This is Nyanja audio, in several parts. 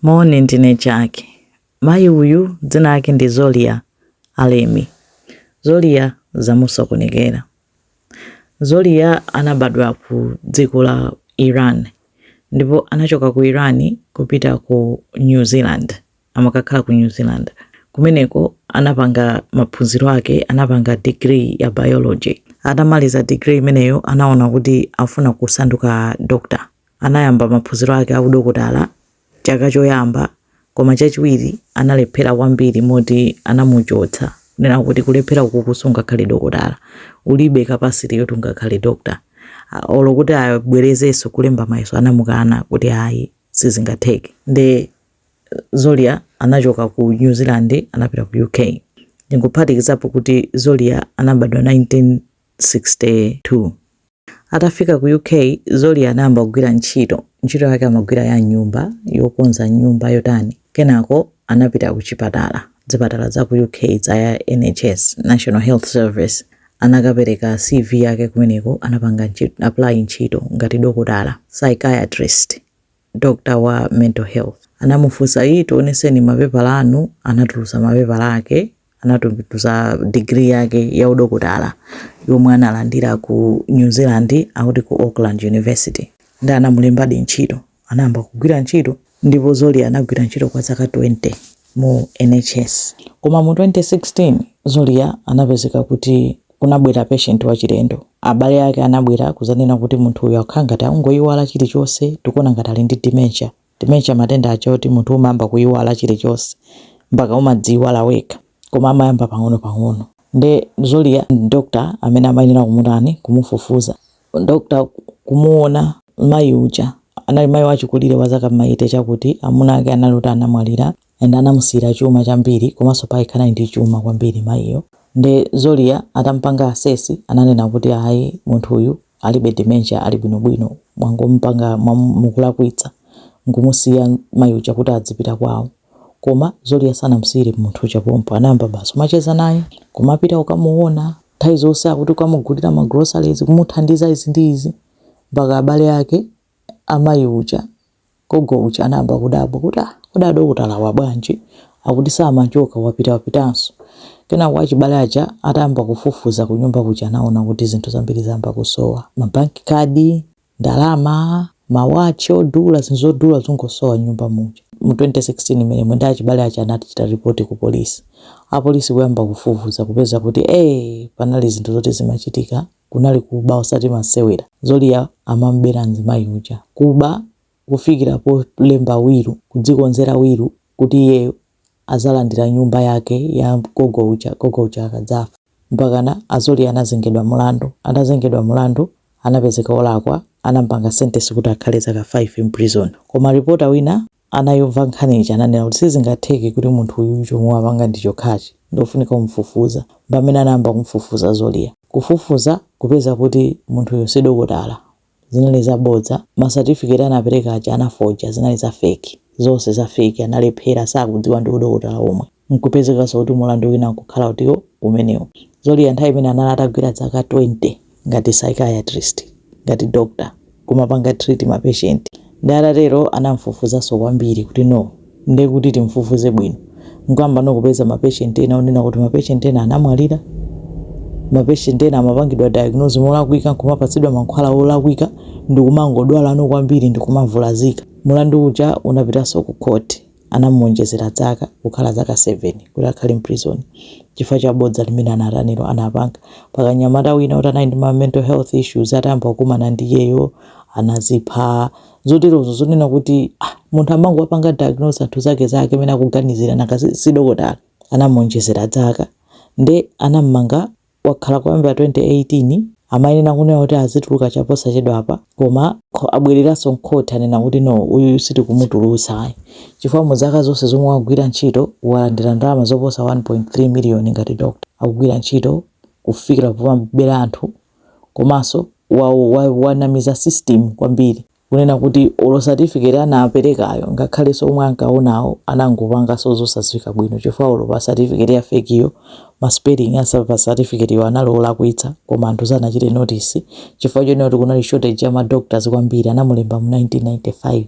Moni, ndine Jack. Mayi uyu dzina lake ndi Zolia Alemi. Zolia zamusokonekera. Zolia anabadwa ku dziko la Iran ndipo anachoka ku Iran kupita ku New Zealand, amakakhala ku New Zealand. Kumeneko anapanga maphunziro ake, anapanga degree ya biology. Atamaliza degree imeneyo anaona kuti afuna kusanduka doctor. Anayamba maphunziro ake a udokotala chaka choyamba koma chachiwiri analephera kwambiri moti anamuchotsa kunena kuti kulephera ukuku sungakhale dokotala. Ulibe capacity yoti ungakhale doctor. A- Olo kuti abwerezenso kulemba mayeso anamukana kuti ayi sizingatheke. Nde Zolia anachoka ku New Zealand anapita ku UK. Ndingophatikizapo kuti Zolia anabadwa 1962. Atafika ku UK, Zolia anayamba kugwira ntchito. Ntchito yake amagwira ya m'nyumba, yokonza m'nyumba, yotani. Kenako anapita kuchipatala, zipatala za ku UK za ya NHS, National Health Service. Anakapereka CV yake kumeneko, anapanga apply ntchito ngati dokotala, psychiatrist. doctor wa mental health anamufunsa ayi tioneseni mapepala anu anatulutsa mapepala ake anatulutsa degree yake ya udokotala yomwe analandira ku new zealand akuti ku auckland university nde anamulembadi ntchito anayamba kugwira ntchito ndipo Zolia anagwira ntchito kwa zaka 20 mu NHS. Koma mu 2016, Zolia anapezeka kuti kunabwera patient wachilendo. Abale ake anabwera kudzanena kuti munthu uyu akukhala ngati akungoiwala chilichonse, tikuona ngati ali ndi dementia. Dementia matenda aja oti munthu umayamba kuiwala chilichonse mpaka umadziiwala wekha. Koma amayamba pang'onopang'ono. Nde Zolia ndi doctor amene amayenera kumutani, kumufufuza. Dr kumuona mayi uja anali mayi wachikulire wa zaka m'ma 80 chakuti amuna ake anali oti anamwalira and anamusiyira chuma chambiri komanso payekha anali ndi chuma kwambiri mayiyo nde Zolia atamupanga assess ananena kuti ayi munthu uyu alibe dementia ali bwinobwino mwangomupanga mukulakwitsa nkumusiya mayi uja kuti adzipita kwawo koma Zolia sanamusiyire munthu uja pompo anayamba basi kumacheza naye kumapita kukamuona Nthawi zonse akuti kukamugulira ma groceries, kumuthandiza izi ndi izi, mpaka abale ake a mayi uja, gogo uja anayamba kudabwa kuti ah, kodi adokotalawa bwanji? Akuti samachoka, wapita wapitanso. Kenako achibale aja atayamba kufufuza kunyumba kuja anaona kuti zinthu zambiri zayamba kusowa, ma bank card, ndalama, ma watch odula, zinthu zodula zikungosowa m'nyumba muja. Mu 2016 mmenemo nde achibale aja anati chita report ku police. Apolisi kuyamba kufufuza kupeza kuti ee panali zinthu zoti zimachitika, kunali kuba osati masewera. Zolia amamubera mzimayi uja, kuba kufikira polemba wilu, kudzikonzera wilu kuti iyeyo azalandira nyumba yake ya gogo uja gogo uja akadzafa mpakana zolia anazengedwa mulandu atazengedwa mulandu anapezeka olakwa anampanga sentence kuti akhale zaka 5 in prison koma reporter wina anayimva nkhani ija ananena kuti sizingatheke kuti munthu uyu chomwe wapanga ndi chokhachi ndofunika kumfufuza pamene anayamba kumfufuza zolia kufufuza kupeza kuti munthuyo si dokotala zinali zabodza, ma certificate anapereka aja anafoja zinali za fake, zonse za fake, analephera sakudziwa ndi udokotala omwe, nkupezekanso kuti mulandu wina nkukhala uti umenewu. Zolia nthawi imene anali atagwira dzaka 20 ngati psychiatrist, ngati doctor, kumapanga treat ma patient, Nde atatero anamfufuzanso kwambiri kuti no nde kuti timfufuze bwino nkuyamba no kupeza ma patient ena onena kuti ma patient ena anamwalira, ma patient ena amapangidwa diagnose molakwika nkumapatsidwa mankhwala olakwika ndikumangodwala no kwambiri ndikumavulazika. Mulandu uja unapitanso ku khoti. anamuonjezera dzaka kukhala zaka 7 kuti akhale mprizoni chifukwa cha bodza limene anatanilo, anapanga pakamnyamata wina oti anali ndi ma mental health issues atayamba kukumana ndi iyeyo anazipha zoterozo zonena kuti ah, munthu amangowapanga diagnose anthu zake zake amene akuganizira nanga si- si dokotala anamuonjezera dzaka nde anammanga wakhala kuyambira 2018 amayenera kunena kuti azituluka chaposachedwapa, koma abwereranso mkhoti anena kuti no uyu sitikumutulutsa ayi chifukwa mu zaka zonse zomwe wagwira ntchito walandira ndalama zoposa 1.3 miliyoni ngati doctor akugwira ntchito kufikira pomabera anthu komanso wanamiza system kwambiri kunena kuti olo certificate anaperekayo ngakhalenso omwe ankaonawo anangopanganso zosadziwika bwino chifukwa olo pa certificate ya fake yo ma spelling ake a pa certificate yo anali olakwitsa koma anthu sanachite notice chifukwa chonena kuti kunali shortage ya ma doctors kwambiri anamulemba mu 1995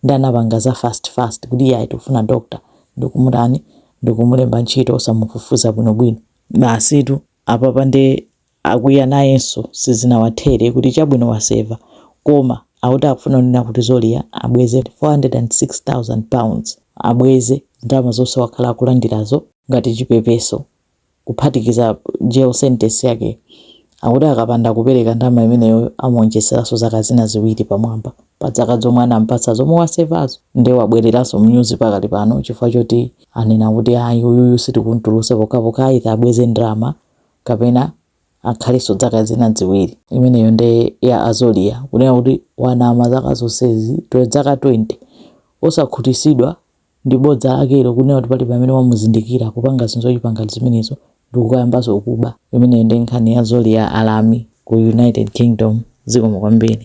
ndi anapanga za fast fast kuti iye ayi tifuna doctor ndikumutani ndikumulemba ntchito osamufufuza bwinobwino basitu Apapa nde akwiya nayenso sizinawathere kuti chabwino waseva koma akuti akufuna kunena kuti Zolia abweze £406,000 abweze ndalama zonse wakhala akulandirazo ngati chipepeso kuphatikiza jail sentence yake akuti akapanda kupereka ndalama imeneyoyo amuonjezeranso zaka zina ziwiri pamwamba. pa dzaka zomwe anampatsa zomwe wasevazo nde wabwereranso mnyuzi pakali pano chifukwa choti anena kuti ayi uyuyu sitikuntulutsa pokhapokha atha abweze ndrama kapena akhalenso dzaka zina dziwiri imeneyo nde ya zolia kunena kuti wanama zaka zonsezitu dzaka 20 osakhutisidwa ndi bodza lakelo kunena kuti pali pamene wamuzindikira kupanga zinthu zochipa ngati zimenezo ndikukayambanso kuba imeneyo nde nkhani ya zolia alemi ku united kingdom zikomo kwambiri.